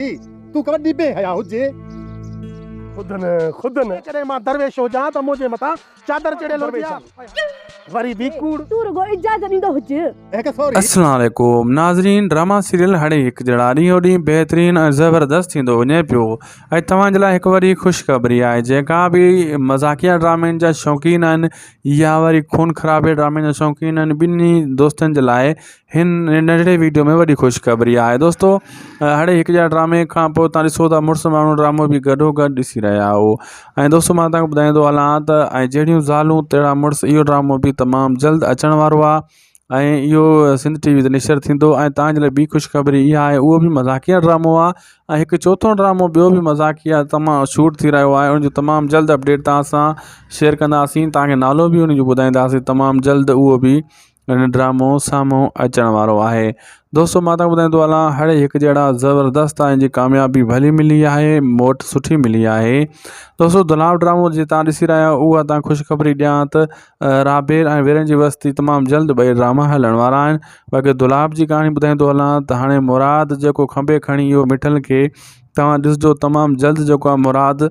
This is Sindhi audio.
ٿي، تون ڪا وڏي بي حيا هجين. خود نه خود نه. جيڪڏهن مان درويش هجان ته منهنجي مٿان چادر چڙهيل هجي ها. وري به ڪوڙ. تون رڳو اجازت ڏيندو هج. السلام عليڪم ناظرين ڊراما سيريل هڻي هڪ جهڙا ڏينهون ڏينهن بهترين ۽ زبردست ٿيندو وڃي پيو ۽ توهان جي لاء هڪ وري خوشخبري آهي جيڪا به مذاقيه ڊرامين جا شوقين آهن يا وري خون خرابي ڊرامين جا شوقين آهن ٻنهي دوستن جي لاء هن ننڍڙي ويڊيو ۾ وڏي خوشخبري آهي دوستو هڙي هڪ جا ڊرامي کان پوء تان ڏسو ته مڙس ماڻهو ڊرامو به گڏو گڏ ڏسي رهيا آهو ۽ دوستو مان تان ٻڌائيندو هلان ته ۽ جهڙيون زالون تهڙا مڙس اهو ڊرامو به تمام جلد اچڻ وارو آهي ۽ اهو سنڌ ٽي وي تي نشر ٿيندو ۽ تان جي لاء ٻي خوشخبري اها آهي اهو به مذاقيه ڊرامو آهي ۽ هڪ چوٿو ڊرامو ٻيو به مذاقيه تمام شوٽ ٿي رهيو آهي ان جو تمام جلد اپڊيٽ تان سان شيئر ڪنداسين تان کي نالو به ان جو ٻڌائينداسين تمام جلد اهو به هن ڊرامو سامهون اچڻ وارو آهي دوستو مان تان ٻڌائيندو هلان هڙ هڪ جهڙا زبردست آهن جي ڪاميابي ڀلي ملي آهي موٽ سٺي ملي آهي دوستو دلال ڊرامو جي تان ڏسي رهيا آهيو اها تان خوشخبري ڏيان ته رابيل ۽ ويرن جي وستي تمام جلد ٻئي ڊراما هلڻ وارا آهن باقي دلال جي ڪهاڻي ٻڌائيندو هلان ته هاڻي مراد جيڪو کنڀي کڻي اهو مٺل کي توهان ڏسجو تمام جلد جيڪو آهي مراد